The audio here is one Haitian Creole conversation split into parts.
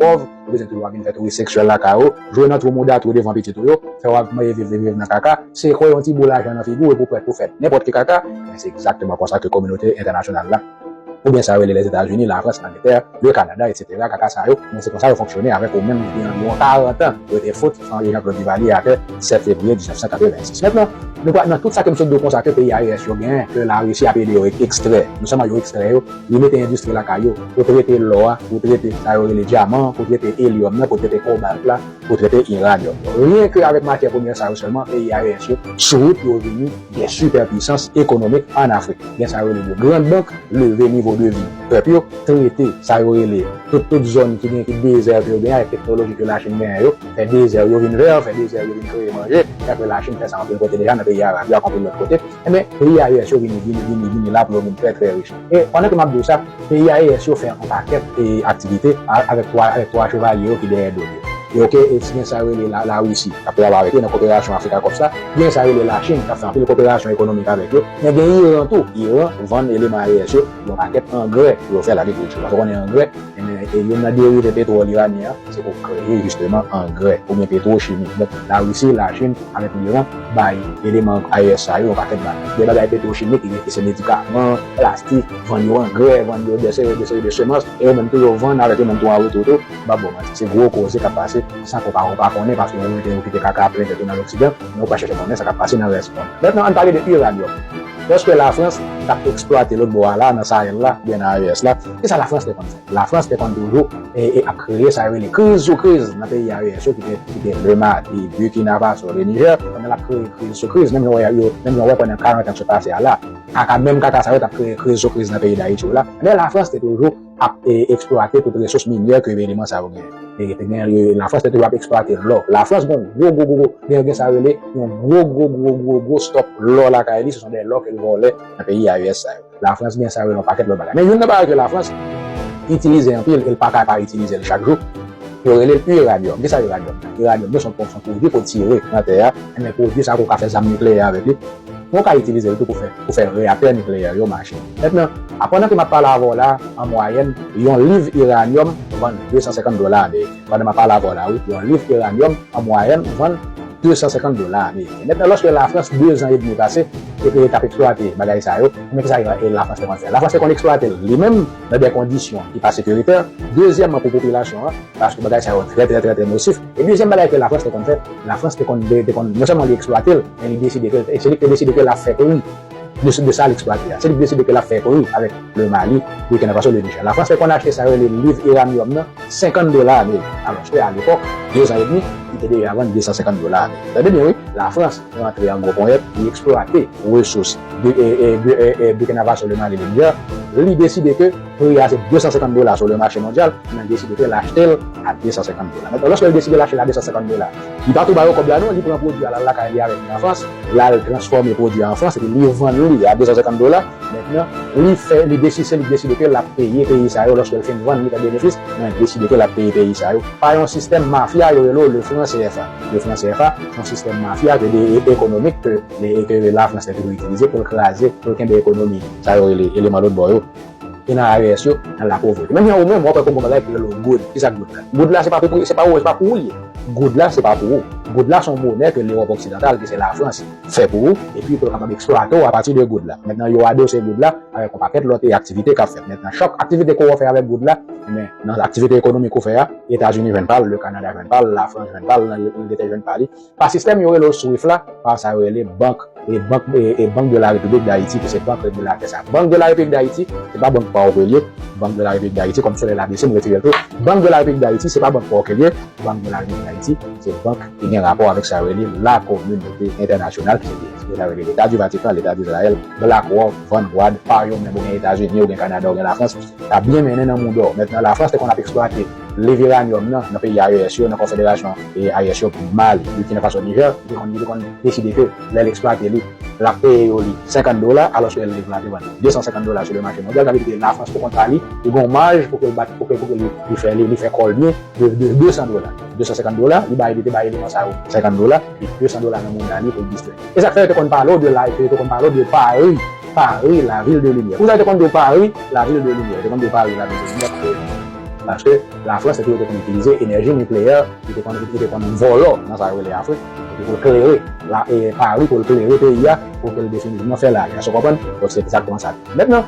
pòv, yo bezwen toujou ap vin fè touris seksyèl lakay ou, jwe nan twou mouda twou devan pitit ou yo, fè w ap manje viv viv viv nan kaka, sekwe yon ti bou lajan nan figi w epi w prèt pou fè nenpòt ki kaka, ebyen se egzakteman konsa ke kominote entènasyonal la, oubyen sa yo rele Lèzetazini, Lafrans, Langletè, Le Kanada, etsetera, kaka sa yo, ebyen se konsa yo fonksyone avèk ou menm ki gen anviwon 40 an pou yo te fout chanje Jean Claude Duvalier atè 7 fevriye 1986. Mentnan, nou pral nan tout sa ke m sot di w konsa ke peyi AES yo gen, ke Larisi ap ede yo ekstrè, non sèlman yo ekstrè yo, Li mete endistri lakay yo pou trete lò a, pou trete sa yo rele dyaman an, pou trete elyòm nan, pou trete kobalt la, pou trete iranyòm nan. Ryen ke avèk matyè premyè sa yo sèlman, peyi AES yo sou wout pou yo vini de sipè pwisans ekonomik an Afrik. Gen sa yo rele de grand bank, leve nivo de vi pèp yo, trete sa yo rele tout tout zòn ki gen ki dezè ke yo genyen avèk teknoloji ke Lachin genyen yo, fè dezè yo vin vè, fè dezè yo vin kreye manje, e apre Lachin fè sa anpil kote deja nan peyi Arab yo ak anpil lòt kote. Enben, peyi a US yo vini, vini, vini, vini la pou yo vin trè, trè rich. E, pandan ke m ap di ou sa, peyi a US yo fè yon pakèt e aktivite avèk twa, avèk twa chevalye yo ki dèyè do l yo. E ok, e si gen sa yo rele la, Larisi k ap travay avèk yo nan koperasyon Afrika Kòp sa, gen sa yo rele Lachin k ap fè anpil koperasyon ekonomik avèk yo, men gen Iran tou. Iran vann eleman a US yo yon pakèt angrè pou yo fè lagrikilti. Paske ou konnen angrè. Enben, e youn nan derive petwòl iranyen an, se pou kreye jisteman angrè oubyen petwochimi. Donk, Larisi, Lachin avèk Liran bay eleman IS sa yo yon pakèt bagay. Gen bagay petwochimik ki gen ki se medikaman, plastik, vann yo angrè, vann yo dè seri dè seri de semans, e yo menm tou yo vann avèk yo menm tou an retou tou. M p ap ba w manti, se gwo koze k ap pase san ke w pa ou pa konnen paske ou rete ou kite kaka plen tèt ou nan loksidan, men ou pa chèche konnen sa k ap pase nan rès mond. Mètnan, ann pale de iranyòm. Lòske Lafrans t ap eksplwate lòtbò a la, nan Sahel la, oubyen nan AES la, Se sa Lafrans te konn fè. Lafrans te konn toujou ap kreye sa yo rele kriz sou kriz nan peyi AES yo ki te Le Mali, Burkina Faso, Le Niger. Pandan l ap kreye kriz sou kriz, menm jan ou wè pandan karant an ki sot pase a la, kaka menm kaka sa yo t ap kreye kriz sou kriz nan peyi Dayiti yo la, enben Lafrans te toujou ap eksplwate tout resous minyè ke eleman sa yo genyen. Lafrans te toujou ap eksplwate lò. Lafrans gen yon gwo gwo gwo, gen sa yo rele yon gwo gwo gwo gwo gwo stòk lò lakay li, se son de lò ke l vòlè nan peyi AES sa yo. Lafrans gen sa yo yon pakèt lòt bagay. Men youn nan bagay ke Lafrans itilize anpil e l pa ka pa itilize l chak jou, yo rele l iradyòm. Kisa iradyòm ye? Iradyòm yo se yon pwodui ke w tire nan tè a, enben pwodui sa a kou w ka fè zam nikleyè avèk li, men w ka itilize l tou pou fè reyaktè nikleyè yo mache. Mentnan, a pandan ke m ap pale avè w la a, an mwayèn, yon liv iradyòm vann 250 dola ameriken. Pandan map pale avè w la wi, yon liv Eranium an mwayèn vann 250 dola ameriken. Mètnan lòske Lafrans 2 zan edmi pase epi li tap eksplwate bagay sa yo, men kisa ke Lafrans te konn fè? Lafrans te konn eksplwate l li menm nan dè kondisyon ki pa sekiritè, dezyèmman pou popilasyon an, paske bagay sa yo trè trè trè trè nosif, e dezyèm bagay ke Lafrans te konn fè, Lafrans te konn, te konn, non sèlman li eksplwate l, men li deside ke, se li ki te deside ke lap fè peyi. Blessure de sa li eksplwate a. Se li blessure de ke lap fè kori avèk le Mali, Burkina Faso, le Niger. La France fè konn achte sa yo rele liv iranium nan 50 dola ameriken. Alòske a lepòk, 2 zan edmi, li te deja vann 250 dola ameriken. Tande byen wi, la France rantre an gwo ponyèt, li eksplwate resous Burkina Faso, le Mali, le Niger, li deside ke. Pri a se 250 dola sou le mache mondyal, men Desi Beauté al achte l a 250 dola. Mentnan loske l deside l achte l a 250 dola, li pa tou ba yo kòb la non, li pran pwodui a l al lakay li avèk li an Frans, l al transfòme pwodui a an Frans epi li vann li a 250 dola, mentnan li fè li desi se li k desi Beauté l ap peye peyi sa yo loske l fin vann li fè benefis, men Desi Beauté l ap peye peyi sa yo pa yon sistèm mafya yo rele w le fran cfa, le fran cfa se yon sistèm mafya ke de ekonomik ke ke la Frans te toujou itilize pou l kraze, pou l kenbe ekonomi sa yo rele eleman lotbò yo. ki nan AES yo nan la povrete. Menm jan ou menm wap wè konbon bagay pou yo lòw goud. Kisa goud la? Goud la se pa pou se pa ou se pa pou ou li ye. Goud la se pa pou ou. Goud la se yon monè ke Lewòp oksidantal ki se la Frans fè pou ou epi pou yo kapab eksplwate ou a pati de goud la. Mentnan yo adose goud la avèk yon pakèt lòt e aktivite kap fèt. Mentnan chak aktivite ke wou fè avèk goud la enben nan aktivite ekonomik ou fè a Etazini jwenn pa l, le Kanada jwenn pa l, la Frans jwenn pa l, Angletè jwenn pa li. Pa sistèm yo rele w Swift la, pa sa yo rele bank e bank e bank de la repiblik dayiti ki se bank regilatè sa. Bank de la repiblik dayiti se pa bank paw ke l ye, bank de la repiblik dayiti kòm solèy la bese m retire l tou, bank de la repiblik dayiti se pa bank paw ke l ye, bank de la repiblik dayiti se bank ki gen rapò avèk sa yo rele la kominote entènasyonal ki se sa yo rele leta di vatikan, leta di izrayèl, blak wòk, van gwad, pa yo menm ou gen etazini ou gen kanada ou gen la frans, ta byen mennen nan moudon, mètnan la frans te konn ap eksplwate. leve ranyòm nan nan peyi AES yo, nan konfederasyon AES yo, Mali, Burkina Faso, Niger, li te konn li te konn deside ke lè l eksplwate li, l ap peye yo li 50 dola alòske lè l leve l ap te vann li 250 dola sou le mache mondyal. Sa vle di ke Lafrans pou kont pa li, li gen yon maj pou ke l bat pou ke pou ke li li fè li fè kò l byen de de 200 dola, 250 dola li bay li te bay eleman sa yo 50 dola epi 200 dola nan moneda li pou l distrè. E sa k fè yo te konn pale w de la e ke yo te konn pale w de Pari, Pari, la ville de lumière. Pou sa yo te konn di w Pari, la ville de lumière? Yo te konn di w Pari, la ville de lumière paske. Paske Lafrans se pou yo te konn itilize enèji nikleyè li te konn li te konn vòlò nan sa yo rele Afrik epi pou l klere la Pari pou l klere peyi a pou ke l definitivman fè lari. Èske w konprann? Donk se egzakteman sa l ye. Mentnan,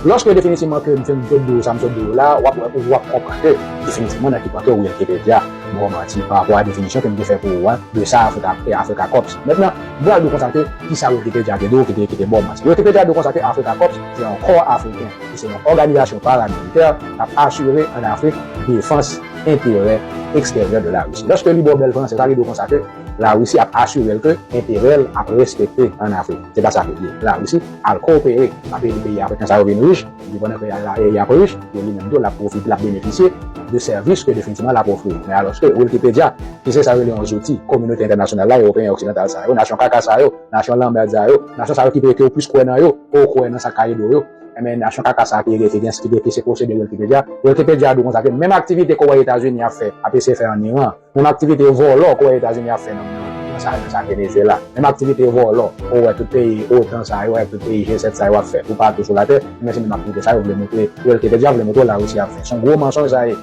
lòske definitivman ke m fin sot di w sa m sot di w la, w ap wè ou ap konprann ke definitivman nan ki pwen ke Wikipedya ba w manti pa rapò a definisyon ke m te fè pou ou a de sa Afrika e Afrika Kòps. Mentnan, m pral di w konsa ke kisa Wikipedya te di w ki te ki te ba w manti. Wikipedya di w konsa ke Afrika Kòps se yon kò Afriken. Se yon òganizasyon paramilitè k ap asire an Afrik defans enterè eksteryè de Larisi. Lòske li ba w bèl franse, sa vle di w konsa ke Larisi ap asire l ke enterè l ap respekte an Afrik. Se pa sa ke l ye. Larisi al koopere, l ap ede peyi afriken sa yo vin rich, epi pandan ke y ap rich, yo li menm tou l ap pwofite, l ap benefisye de sèvis ke definitivman l ap ofri. Men alòske Wilkipedya, ki se sa yo rele yon zouti kominote entènasyonal la, Ewopeyen oksidantal sa yo, nasyon kaka sa yo, nasyon lanmerd sa yo, nasyon sa yo ki vle ke ou plis kwè nan yo ke w kwè nan sa k ka ede w yo, Enben, nasyon kaka sa a ki rele Ethereans ki dwe se posede Wikipedia. Wikipedia di konsa ke menm aktivite Kore Etazini ap fè ap eseye fè an Iran, menm aktivite vòlò Kore Etazini ap fè nan nan sa nan sa Venezuela, menm aktivite vòlò ou wè tout peyi otan sa yo avèk tout peyi G7 sa yo ap fè toupatou sou latè, enben se menm aktivite sa yo vle montre Wikipedia vle montre w Larisi ap fè. Se yon gwo mansonj sa ye.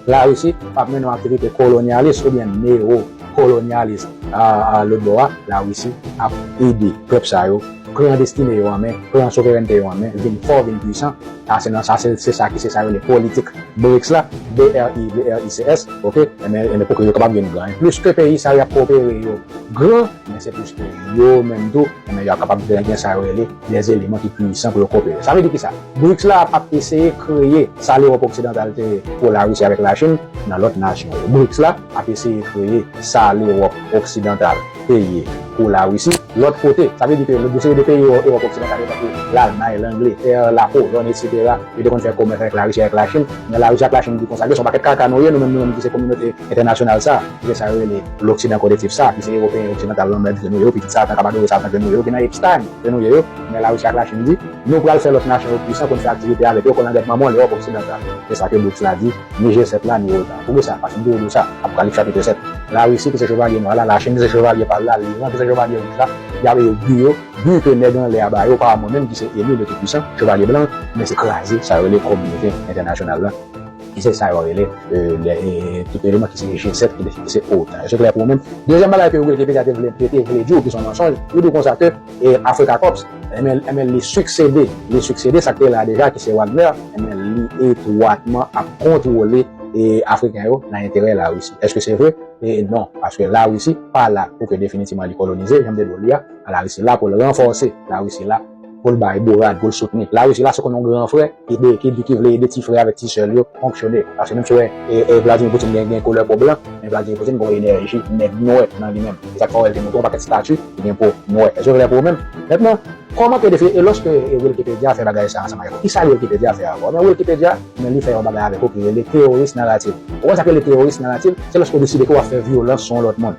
Larisi pa ap mennen yon aktivite kolonyalis oubyen newo kolonyalis. Aa lòt bò a, Larisi ap ede pèp sa yo. Pran destine yo an men, pran souverènte yo an men, vin fò, vin pwisan, sa se nan sa se se sa ki se sa yo rele politik BRICS la, B-r-i-b-r-i-c-s, ok, enben enben pou ke yo kapab vin gran. E plis ke peyi sa yo y ap koopere yo gran, enben se plis ke yo menm tou enben y ap kapab vin gen sa yo rele des eleman ki pwisan pou yo koopere. Sa vle di kisa? BRICS la ap eseye kreye sa Lewòp oksidantal te ye pou Larisi avèk Lachin nan lòt nasyon yo. BRICS la ap eseye kreye sa Lewòp oksidantal peye pou Larisi. Lòt kote, sa vle di ke yon seri de peyi Ewòp oksidantal yo tankou Lalmay, Langletè, Lapolòn, etsetera, yo te konn fè komès avèk Larisi, avèk Lachin. Men Larisi ak Lachin di konsa, gen yon pakèt kaka nou ye, nou menm nou menm ki se kominote entènasyonal sa, ki se sa yo rele loksidan koletif sa, ki se Ewopeyen oksidantal lanmèd ke nou ye yo, pitit satan k ap adore satan ke nou ye yo, ki nan Epstein ke nou ye yo. Men Larisi ak Lachin di, nou pral fè lòt nasyon yo pwisan pou n fè aktivite avèk yo, kòlangèt manman l Ewòp oksidantal. Se sa ke BRICS la di. Nijè 7 la ni reta. Poukisa? Paske m te rele sa. Apokalip chapitre 7. La Risi ki se chevalye nwa la, la Chin ki se chevalye pal la, Liran ki se chevalye wouj la, yap yo bu yo, bu ke nèg anlè a ba yo, pa a mwen menm ki se eli le tout puisan, chevalye blan an, men se kraze sa yo rele kominote entènasyonal la, ki se sa yo rele le tout eleman ki se G 7 ki se otan. Eske klè pou ou menm? Dezyèm bagay ke Wilky Peter te vle te vle di ou ki son mansonj, li di ou konsa ke. E Africa Corps, enben, enben li siksede, li siksede sa k te la a deja ki se Wagner, enben li etwatman ap kontwole e Afriken yo nan enterè Larisi. Eske se vre? E non, paske Larisi pa la pou ke definitivman li kolonize, jan m te di w li a, Larisi la pou l ranfòse, Larisi la pou l bay bourad, pou l soutni. Larisi la se konn yon gran frè. Ede ekip ki vle ede ti frè avèk ti sè l yo fonksyone. Paske menm si w wè Vladimir Putin gen gen koulè po blan, men Vladimir Putin gen yon enèji nèg nwè nan li menm. Se sa k fè w wè l te montre yon pakèt stati ki gen po nwè. Èske yo klè pou ou menm? Mentnan, kòmante defile e lòske Wilkipedya fè bagay sa a ansanm avèk ou, kisa Wilkipedya fè avè w? Ebyen, Wilkipedya, ebyen li fè yon bagay avèk ou ki rele teoris narativ. Ou konn sa k rele teoris narativ? Se lòske ou deside ke w ap fè vyolans sou yon lòt moun.